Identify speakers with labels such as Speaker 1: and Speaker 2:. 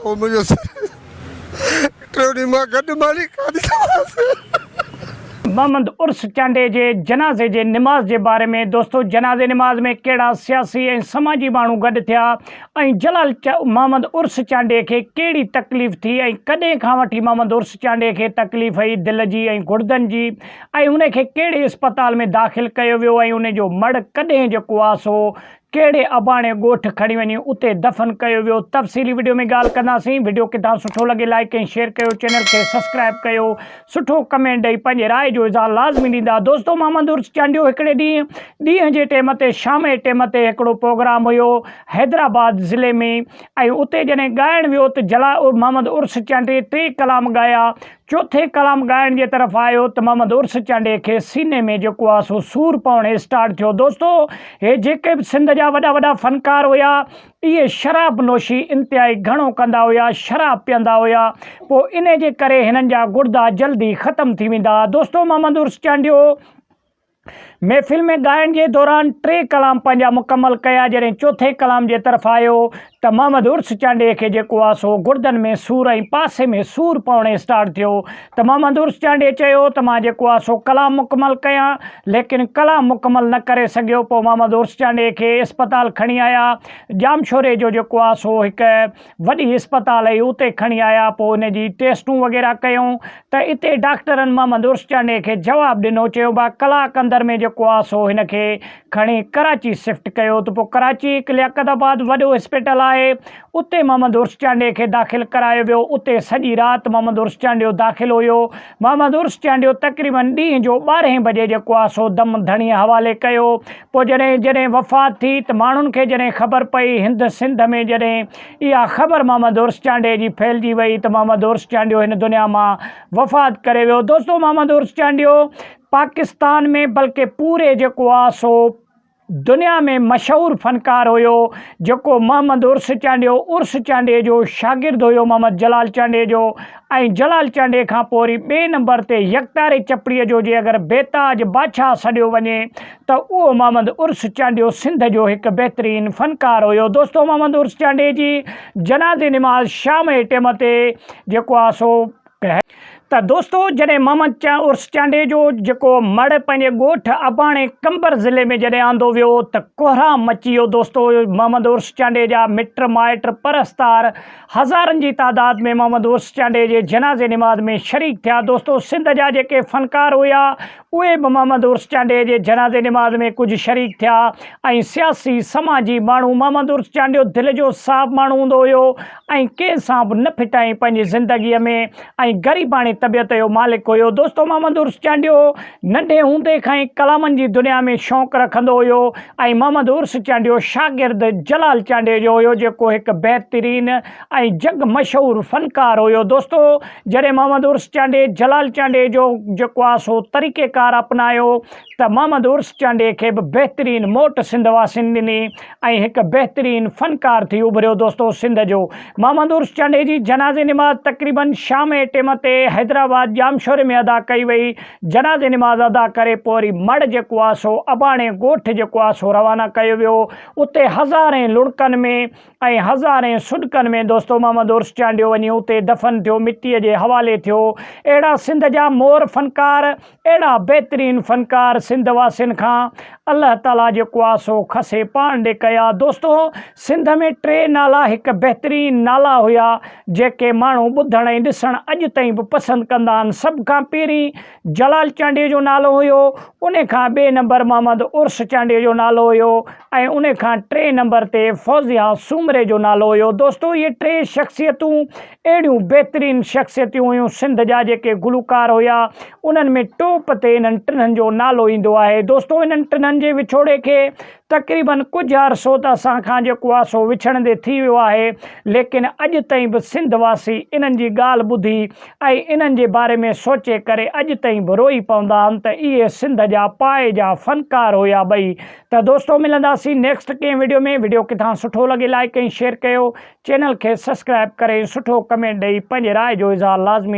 Speaker 1: او منهنجو سر ٽيون ڏينهن مان گڏ ماني کاڌي ته مانس.
Speaker 2: محمد عرس چانڊيي جي جنازي جي نماز جي باري ۾ دوستو جنازي نماز ۾ ڪهڙا سياسي ۽ سماجي ماڻهو گڏ ٿيا ۽ جلال محمد عرس چانڊيي کي ڪهڙي تڪليف ٿي ۽ ڪڏهن کان وٺي محمد عرس چانڊيي کي تڪليف هئي دل جي ۽ گڙدن جي ۽ ان کي ڪهڙي اسپتال ۾ داخل ڪيو ويو ۽ ان جو مڙهه ڪڏهن جو ڪواس هو ڪهڙي اباڻي ڳوٺ کڻي وڃي اتي دفن ڪيو ويو تفصيلي وڊيو ۾ ڳالهه ڪنداسين وڊيو ڪٿان سٺو لڳي لائيڪ ۽ شيئر ڪيو چينل کي سسڪرائب ڪيو سٺو ڪمينٽ ڏئي پنهنجي راء جو اظهار لازمي ڏيندا دوستو محمد عرس چانڊيو هڪڙي ڏينهن ڏينهن جي ٽيم تي شام جي ٽيم تي هڪڙو پروگرام هيو حيدرآباد ضلعي ۾ ۽ اتي جڏهن ڳائڻ ويو ته جلا محمد عرس چانڊي ٽي ڪلام ڳايا چوٿين ڪلام ڳائڻ جي طرف آيو ته محمد عرس چانڊيي کي سيني ۾ جيڪو آهي سو سور پوڻ اسٽارٽ ٿيو. دوستو هي جيڪي به سنڌ جا وڏا وڏا فنڪار هيا اهي شراب نوشي انتهائي گهڻو ڪندا هيا شراب پيئندا هيا پوء انهي جي ڪري هنن جا گڙدا جلدي ختم ٿي ويندا ها دوستو محمد عرس چانڊيو محفل ۾ ڳائڻ جي دوران ٽي ڪلام پنهنجا مڪمل ڪيا، جڏهن چوٿين ڪلام جي طرف آيو ته محمد عرس چانڊئي کي جيڪو آ سو گڙدن ۾ سور ۽ پاسي ۾ سور پوڻ اسٽارٽ ٿيو ته محمد عرس چانڊئي چيو ته مان جيڪو آ سو ڪلام مڪمل ڪيان ليڪن ڪلام مڪمل نه ڪري سگهيو پوء محمد عرس چانڊئي کي اسپتال کڻي آيا ڄامشوري جو جيڪو آ سو هڪ وڏي اسپتال هي اتي کڻي آيا پوء ان جي ٽيسٽون وغيره ڪيون ته اتي ڊاڪٽرن محمد عرس چانڊئي کي جواب ڏنو چيو با ڪلاڪ اندر ۾ جيڪو آ سو هن کي کڻي ڪراچي سفٽ ڪيو ته پوء ڪراچي هڪ لياقت آباد وڏو اسپتال آهي اتي محمد عرس چانڊئي کي داخل ڪرايو ويو اتي سڄي رات محمد عرس چانڊيو داخل هيو محمد عرس چانڊيو تقريبن ڏينهن جو ٻارهين بجي جيڪو آ سو دم ڌڻي حوالي ڪيو پوء جڏهن جڏهن وفات ٿي ته ماڻهن کي جڏهن خبر پئي هند سنڌ ۾ جڏهن اها خبر محمد عرس چانڊيي جي ڦهلجي وئي ته محمد عرس چانڊيو هن دنيا مان وفات ڪري ويو دوستو محمد عرس چانڊيو پاڪستان ۾ بلڪه پوري جيڪو آ سو دنيا ۾ مشهور فنڪار هيو جيڪو محمد عرس چانڊيو عرس چانڊيي جو شاگرد هيو محمد جلال چانڊيي جو ۽ جلال چانڊيي کان پوء وري ٻئي نمبر تي يڪتاري چپڙيء جو جي اگر بيتاج بادشاهه سڏيو وڃي ته اهو محمد عرس چانڊيو سنڌ جو هڪ بهترين فنڪار هيو دوستو محمد عرس چانڊيي جي جنازي نماز شام جي ٽيم تي جيڪو آ سو ڪهي ته دوستو جڏهن محمد عرس چانڊيي جو جيڪو مڙهه پنهنجي ڳوٺ اباڻي قمبر ضلعي ۾ جڏهن آندو ويو ته ڪوهرام مچي ويو دوستو محمد عرس چانڊيي جا مٽ مائٽ پرستار هزارن جي تعداد ۾ محمد عرس چانڊئي جي جنازي نماز ۾ شريڪ ٿيا دوستو سنڌ جا جيڪي فنڪار هيا اهي به محمد عرس چانڊئي جي جنازي نماز ۾ ڪجهه شريڪ ٿيا ۽ سياسي سماجي ماڻهو محمد عرس چانڊيو دل جو صاف ماڻهو هوندو هيو ۽ ڪنهن سان به نه ڦٽائين پنهنجي زندگي ۾ ۽ غريباڻي طبيعت جو مالڪ هيو. دوستو محمد عرس چانڊيو ننڍي هوندي کان ئي ڪلامن جي دنيا ۾ شوق رکندو هيو ۽ محمد عرس چانڊيو شاگرد جلال چانڊيو جو هيو جيڪو هڪ بهترين ۽ جڳ مشهور فنڪار هيو. دوستو جڏهن محمد عرس چانڊي جلال چانڊيو جو جيڪو آ سو طريقيڪار اپنايو ته محمد عرس چانڊيي کي به بهترين موٽ سنڌ واسين ڏني ۽ هڪ بهترين فنڪار ٿي اڀريو دوستو سنڌ جو محمد عرس چانڊيي جي جنازي نماز تقريبن شام ائين ٽيم تي حيدرآباد ڄامشوري ۾ ادا ڪئي وئي جنازي نماز ادا ڪري پوء وري مڙ جيڪو آ سو اباڻي ڳوٺ جيڪو آ سو روانا ڪيو ويو اتي هزارين لڙڪن ۾ ۽ هزارين سڏڪن ۾ دوستو محمد عرس چانڊيو وڃي اتي دفن ٿيو مٽيء جي حوالي ٿيو اهڙا سنڌ جا مور فنڪار اهڙا بهترين فنڪار سنڌ واسين کان الله تعالي جيڪو آ سو کسي پاڻ ڏي ڪيا دوستو سنڌ ۾ ٽي نالا هڪ بهترين نالا هيا جيڪي ماڻهو ٻڌڻ ۽ ڏسڻ اڄ تائين به پسند ڪندا آهن سڀ کان پهرين جلال چانڊيجو نالو هيو، ان کان ٻئي نمبر محمد عرس چانڊيجو نالو هيو ۽ ان کان ٽئين نمبر تي فوزيا سومري جو نالو هيو دوستو هي ٽي شخصيتون اهڙيون بهترين شخصيتون هيون سنڌ جا جيڪي گلوڪار هيا انهن ۾ ٽوپ تي انهن ٽنهن جو نالو ايندو آهي دوستو انهن ٽنهن جي وڇوڙي کي تقريباً ڪجهه عرصو ته اسان کان جيڪو آهي سو وڇڙندي ٿي ويو آهي، ليڪن اڄ تائين به سنڌ واسي انهن جي ڳالهه ٻڌي ۽ انهن جي باري ۾ سوچي ڪري اڄ تائين به روئي پوندا آهن ته اهي سنڌ جا پايي جا فنڪار هيا ٻئي. ته دوستو ملنداسين نيڪسٽ ڪنهن وڊيو ۾ وڊيو ڪٿان سٺو لڳي لائيڪ ۽ شيئر ڪيو چينل کي سسڪرائب ڪري سٺو ڪمينٽ ڏئي پنهنجي راء جو اظهار لازمي